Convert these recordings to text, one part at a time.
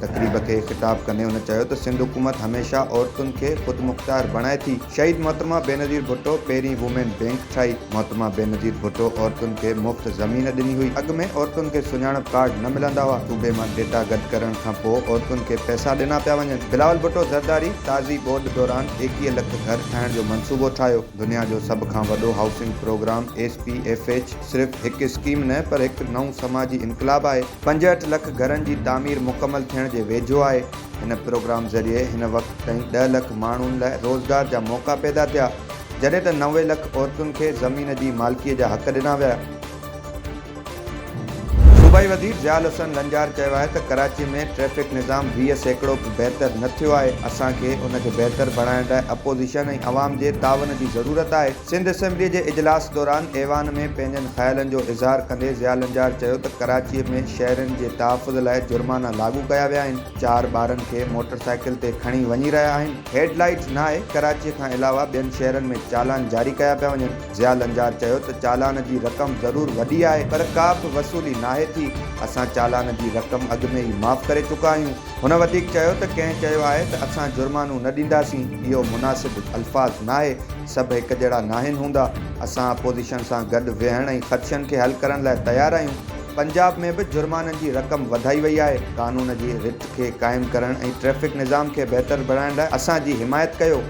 تقريب کي خطاب ڪندي هن چيو ته سنڌ حڪومت هميشه عورتن کي خودمختيار بڻائي ٿي، شهيد محترمه بينظير ڀٽو پهرين وومين بينڪ ٺاهي، محترمه بينظير ڀٽو عورتن کي مفت زمين ڏني هئي، اڳ ۾ عورتن کي سڃاڻپ ڪارڊ نه ملندا هئا، صوبي مان ڊيٽا گڏ ڪرڻ کان پوء عورتن کي پئسا ڏنا پيا وڃن، بلاول ڀٽو زرداري تازي ٻوڏ دوران ايڪيهه لک گهر ٺاهڻ جو منصوبو ٺاهيو، دنيا جو سڀ کان وڏو housing programme S P F H. صرف هڪ اسڪيم نه پر هڪ نئون سماجي انقلاب آهي، پنجهٺ لک گهرن جي تعمير مڪمل ٿيڻ جي ويجهو آهي، هن پروگرام ذريعي هن وقت تائين ڏهه لک ماڻهن لاء روزگار جا موقعا پيدا ٿيا، جڏهن ته نوي لک عورتن کي زمين جي مالڪي جا حق ڏنا ويا. صوبائي وزير ضياء الحسن لنجار چيو آهي ته ڪراچي ۾ ٽريفڪ نظام ويهه سيڪڙو به بهتر نه ٿيو آهي، اسان کي ان کي بهتر بڻائڻ لاء اپوزيشن ۽ عوام جي تعاون جي ضرورت آهي، سنڌ اسيمبلي جي اجلاس دوران ايوان ۾ پنهنجن خيالن جو اظهار ڪندي ضياء لنجار چيو ته ڪراچي ۾ شهرين جي تحفظ لاء جرمانا لاڳو ڪيا ويا آهن چار ٻارن کي موٽر سائيڪل تي کڻي وڃي رهيا آهن هيڊ لائيٽس ناهي ڪراچي کان علاوه ٻين شهرن ۾ چالان جاري ڪيا پيا وڃن ضياء لنجار چيو ته چالان جي رقم ضرور وڏي آهي پر ڪا به وصولي ناهي ٿي اسان چالان جي رقم اڳ ۾ ئي معاف ڪري چڪا آهيون هن وڌيڪ چيو ته ڪنهن چيو آهي ته اسان جرمانو نه ڏينداسين اهو مناسب الفاظ ناهي سڀ هڪ جهڙا ناهن هوندا، اسان اپوزيشن سان گڏ ويهڻ ۽ خدشن کي حل ڪرڻ لاء تيار آهيون، پنجاب ۾ به جرمانن جي رقم وڌائي وئي آهي، قانون جي رٿ کي قائم ڪرڻ ۽ ٽريفڪ نظام کي بهتر بڻائڻ لاء اسان جي حمايت ڪيو.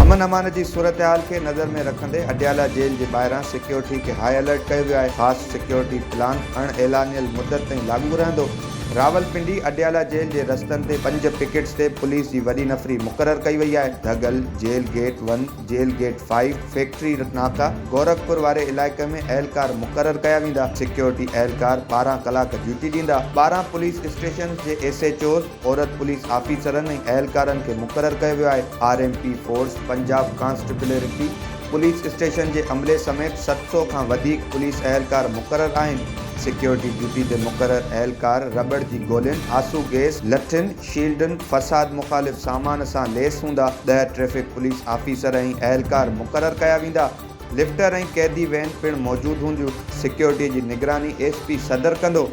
امن امان جي صورتحال کي نظر ۾ رکندي اڊيالا جيل جي ٻاهران سيڪيورٽي کي هاء الرٽ ڪيو ويو آهي، خاص سيڪيورٽي پلان اڻ اعلانيل مدت تائين لاڳو رهندو. راولپنڊي، اڊيالا جيل جي رستن تي پنج پڪيٽس تي پوليس جي وڏي نفري مقرر ڪئي وئي آهي، ڌڳل، jail gate one, jail gate five, factory ناڪا، گورکپور واري علائقي ۾ اهلڪار مقرر ڪيا ويندا، سيڪيورٽي اهلڪار ٻارهن ڪلاڪ ڊيوٽي ڏيندا، ٻارهن پوليس اسٽيشنز جي ايس ايڇ اوز، عورت پوليس آفيسرن ۽ اهلڪارن کي مقرر ڪيو ويو آهي، R M P force, Punjab constabulary, police station جي عملي سميت ست سؤ کان وڌيڪ پوليس اهلڪار مقرر آهن، سيڪيورٽي ڊيوٽي تي مقرر اهلڪار رٻڙ جي گولين، آسو گيس، لٺين، شيلڊن، فساد مخالف سامان سان ليس هوندا، ڏهه ٽريفڪ پوليس آفيسر ۽ اهلڪار مقرر ڪيا ويندا، لفٽر ۽ قيدي وين پڻ موجود هونديون، سيڪيورٽي جي نگراني ايس پي صدر ڪندو.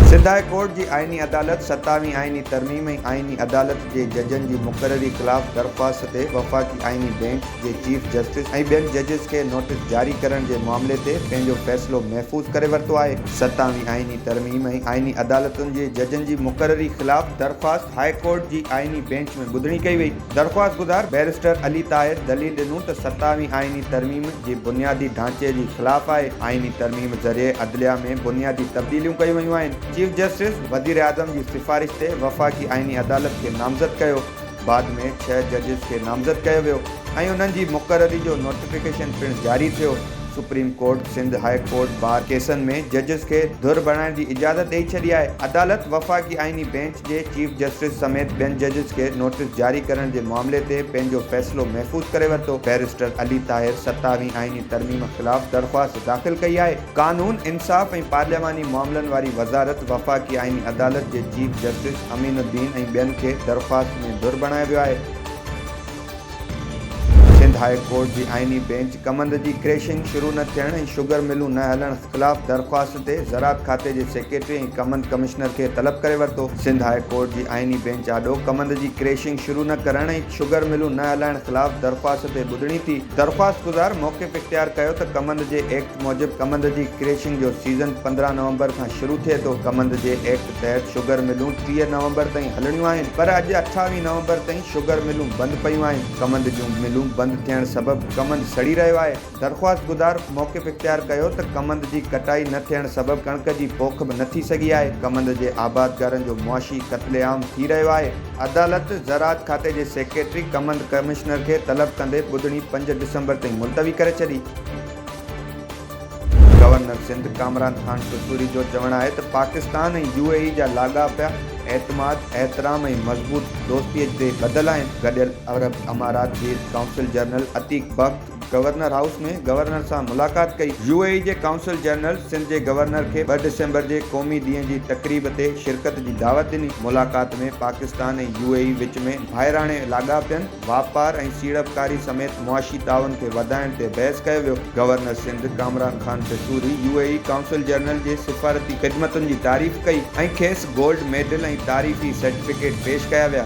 سنڌ هاء ڪورٽ جي آئيني عدالت ستاوي آئيني ترميم ۽ آئيني عدالت جي ججن جي مقرري خلاف درخواست تي وفاقي آئيني بينچ جي چيف جسٽس ۽ ٻين ججز کي نوٽيس جاري ڪرڻ جي معاملي تي پنهنجو فيصلو محفوظ ڪري ورتو آهي. ستاوي آئيني ترميم ۽ آئيني عدالتن جي ججن جي مقرري خلاف درخواست هاء ڪورٽ جي آئيني بينچ ۾ ٻڌڻي ڪئي وئي. درخواستگذار بئريسٽر علي طاهر دليل ڏنو ته ستاوي آئيني ترميم جي بنيادي ڍانچي جي خلاف آهي، آئيني ترميم ذريعي عدليه ۾ بنيادي تبديليون ڪيون ويون آهن، چيف جسٽس وزيراعظم جي سفارش تي وفاقي آئيني عدالت کي نامزد ڪيو، بعد ۾ ڇهه ججز کي نامزد ڪيو ويو ۽ انهن جي مقرري جو نوٽيفڪيشن پڻ جاري ٿيو، supreme court Sindh high court bar ڪيسن ۾ ججز کي ڌر بڻائڻ جي اجازت ڏئي ڇڏي آهي، عدالت وفاقي آئيني بينچ. جي چيف جسٽس سميت ٻين ججز کي نوٽيس جاري ڪرڻ جي معاملي تي پنهنجو فيصلو محفوظ ڪري ورتو، بئريسٽر علي طاهر ستاويهين آئيني ترميم خلاف درخواست داخل ڪئي آهي، قانون، انصاف ۽ پارلياماني معاملن واري وزارت، وفاقي آئيني عدالت جي چيف جسٽس امين الدين ۽ ٻين کي درخواست ۾ ڌر بڻايو ويو آهي. سنڌ هاء ڪورٽ جي آئيني بينچ ڪمند جي ڪريشنگ شروع نه ٿيڻ ۽ شگر ملون نه هلڻ خلاف درخواست تي زراعت کاتي جي سيڪريٽري ۽ ڪمند ڪمشنر کي طلب ڪري ورتو. سنڌ هاء ڪورٽ جي آئيني بينچ آڏو ڪمند جي ڪريشنگ شروع نه ڪرڻ ۽ شگر ملون نه هلائڻ خلاف درخواست تي ٻڌڻي ٿي. درخواستگذار موقف اختيار ڪيو ته ڪمند جي ايڪٽ موجب ڪمند جي ڪريشنگ جو سيزن پندرهن نومبر کان شروع ٿئي ٿو. ڪمند جي ايڪٽ. تحت شگر ملون ٽيهه نومبر تائين هلڻيون آهن پر اڄ اٺاويهه نومبر تائين شگر ملون بند پيون آهن ڪمند جون ملون بند ٿيڻ سبب ڪمند سڙي رهيو آهي درخواستگذار موقف اختيار ڪيو ته ڪمند جي ڪٽائي نه ٿيڻ سبب ڪڻڪ جي پوک به نه ٿي سگهي آهي ڪمند جي آبادگارن جو معاشي قتل عام ٿي رهيو آهي عدالت زراعت کاتي جي سيڪريٽري ڪمند ڪمشنر کي طلب ڪندي ٻڌڻي پنج ڊسمبر تائين ملتوي ڪري ڇڏي. گورنر سنڌ ڪامران خان قصوري جو چوڻ آهي ته پاڪستان ۽ يو اي اي جا لاڳاپيا اعتماد، احترام ۽ مضبوط دوستي تي ٻڌل آهن. گڏيل عرب امارات جي consul general Atiq Bakht governor house ۾ governor سان ملاقات ڪئي. يو اي اي جي قونصل جنرل سنڌ جي گورنر کي ٻه ڊسمبر جي قومي ڏينهن جي تقريب تي شرڪت جي دعوت ڏني. ملاقات ۾ پاڪستان ۽ يو اي اي وچ ۾ ڀائراڻي لاڳاپين، واپار ۽ سيڙپڪاري سميت معاشي تعاون کي وڌائڻ تي بحث ڪيو ويو. Governor Sindh Kamran Khan پشوري U A E consul general جي سفارتي خدمتن جي تعريف ڪئي ۽ کيس گولڊ ميڊل ۽ تعريفي سرٽيفڪيٽ پيش ڪيا ويا.